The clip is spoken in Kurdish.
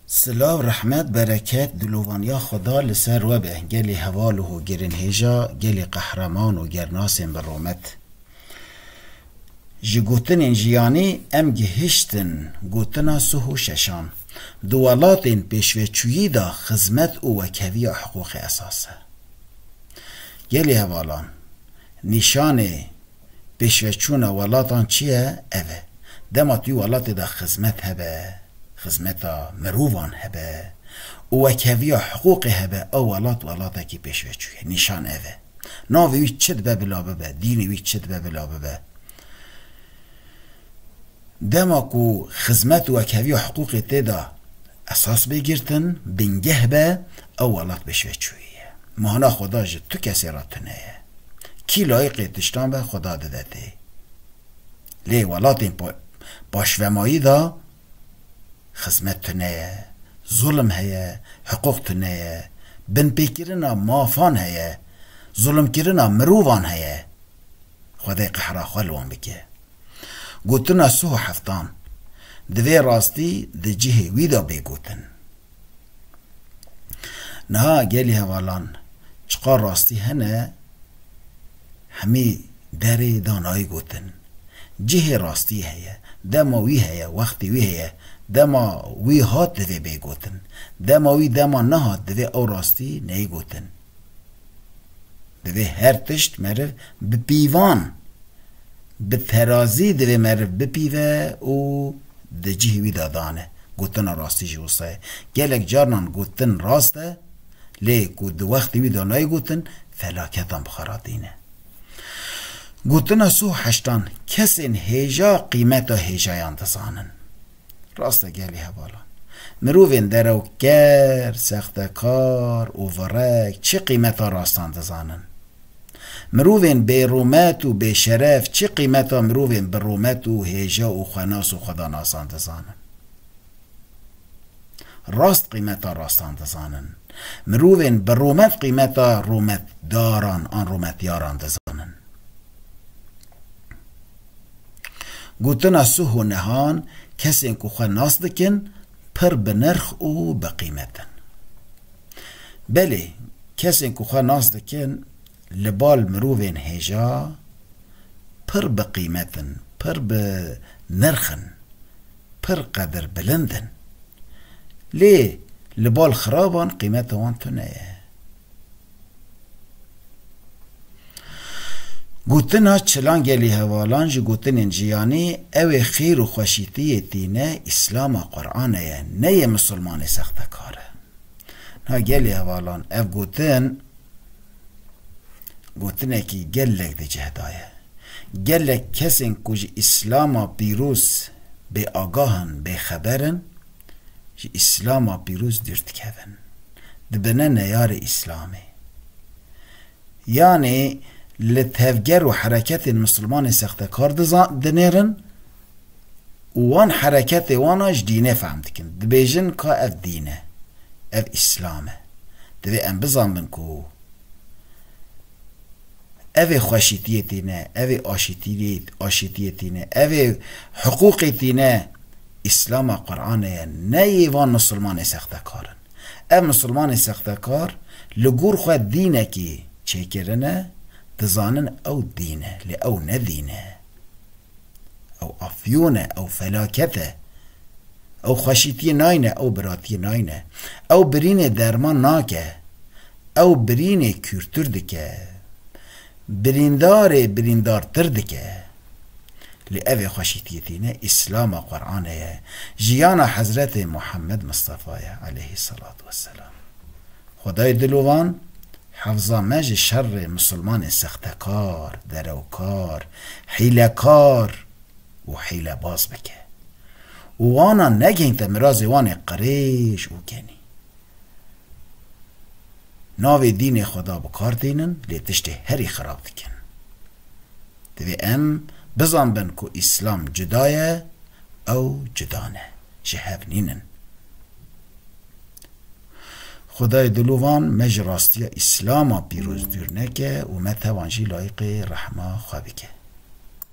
Silav rehmet bereket dilovaniya Xweda li ser we be gelê heval û hogirinhêja gelê qehreman û gernasên bi romet. Ji gotinên jiyanî em gihiştin gotina suh û şeşan. Di welatên pêşveçûyî de xizmet û wekheviya hiqûqê esas e. Gelê hevalan nîşanê. Pêşveçûna welatan çi ye? Ev e, dema tu welatê de xizmet hebe, xizmeta mirovan hebe û wekheviya hiqûqê hebe, ew welat welatekî pêşveçû ye. Nîşan ev e. Navê wî çi dibe bila bibe, dînê wî çi dibe bila bibe. Dema ku xizmet û wekheviya hiqûqê tê de Esas bê girtin, bingeh be, ew welat bê şveçûyî ye. Mana xuda ji tu kesê re tune ye. Kî layiqê tiştan be xuda dide tê. Lê welatên paşvemayî de xizmet tune ye, zulm heye, hiqûq tune ye, binpêkirina mafan heye, zulmkirina mirovan heye. Xwedê qehra xwe li wan bike. Gotina suh û heftan divê rastî di cihê wî de bê gotin. Niha gelî hevalan çiqar rastî hene hemî derê danayî gotin. Cihê rastî heye, dema wî heye, wextê wî heye, dema wî hat divê bê gotin. Dema wî dema nehat divê ew rastî neyê gotin. Divê her tişt meriv bi pîvan, bi terazî divê meriv bipîve û di cihê wî de dane. Gotina rastî jî wisa ye. Gelek carinan gotin rast e, lê ku di wextê wî de nayê gotin, felaketan bi xwe re tîne. Gotina Sû Heştan, Kesên hêja qîmeta hêjayan dizanin. Rast e gelê hevalan. Mirovên derewker, sextekar û virek çi qîmeta rastan dizanin. Mirovên bêrûmet û bêşeref çi qîmeta mirovên bi rûmet û hêja û xwenas û xwedanasan dizanin. Rast qîmeta rastan dizanin. Mirovên bi rûmet qîmeta rûmetdaran an rûmetyaran dizanin. Gotina Suho Nehan, Kesên ku xwe nas dikin pir bi nirx û bi qîmet in. Belê, kesên ku xwe nas dikin li bal mirovên hêja pir bi qîmet in, pir bi nirx in, pir qedirbilind in. Lê li bal xiraban qîmeta wan tune ye. Gotina Çilangelî Hevalan ji gotinên jiyanî ew ê xêr û xweşîtî yê dîne Îslam a Qur'anê ye, ne yê misilmanê sextekar e. Niha gelê hevalan ev gotin gotinekî gelek di cih de ye. Gelek kesên ku ji Îslama pîroz bêagah in, bêxeber in, ji Îslama pîroz dûr dikevin, dibine neyarê Îslamê. Yanê li tevger û hereketên Mislimanên sextekar dinêrin û wan hereketê wan a ji dînê fehm dikin. Dibêjin ka ev dîn e, ev Îslam e. Divê em bizanbin ku ev ê xweşîtiyê tîne, ev ê aşîtiyê tîne, ev ê hiqûqê tîne. Îslama Quranê ye ne yê van Misilmanê sextekar in. Ev Misilmanê sextekar li gor xwe dînekî çêkirin e, dizanin ew dîn e lê ew ne dîn e. Ew afyon e, ew felaket e. Ew xweşîtiyê nayne, ew biratiyê nayne. Ew birînê derman nake. Ew birînê kûrtir dike. Birîndarê birîndartir dike. Lê ev ê xweşîtiyê tîne Îslama Quranê ye, jiyana Hezretê Muhammed Mistefa ye eleyhî selat we selam. Xwedayê dilovan hefza me ji şerrê misilmanên sextekar, derewkar, hîlekar û hîlebaz bike û wanan negihînte mirazê wan ê qirêj û genî. Navê dînê xwe da bi kar tênin lê tiştê herî xirab dikin. Divê em bizanbin ku îslam cuda ye ew cuda ne. Ji hev nînin. Xwedayê dilovan me ji rastiya îslama pîroz dûr neke û me tevan jî layiqê rehma xwe bike.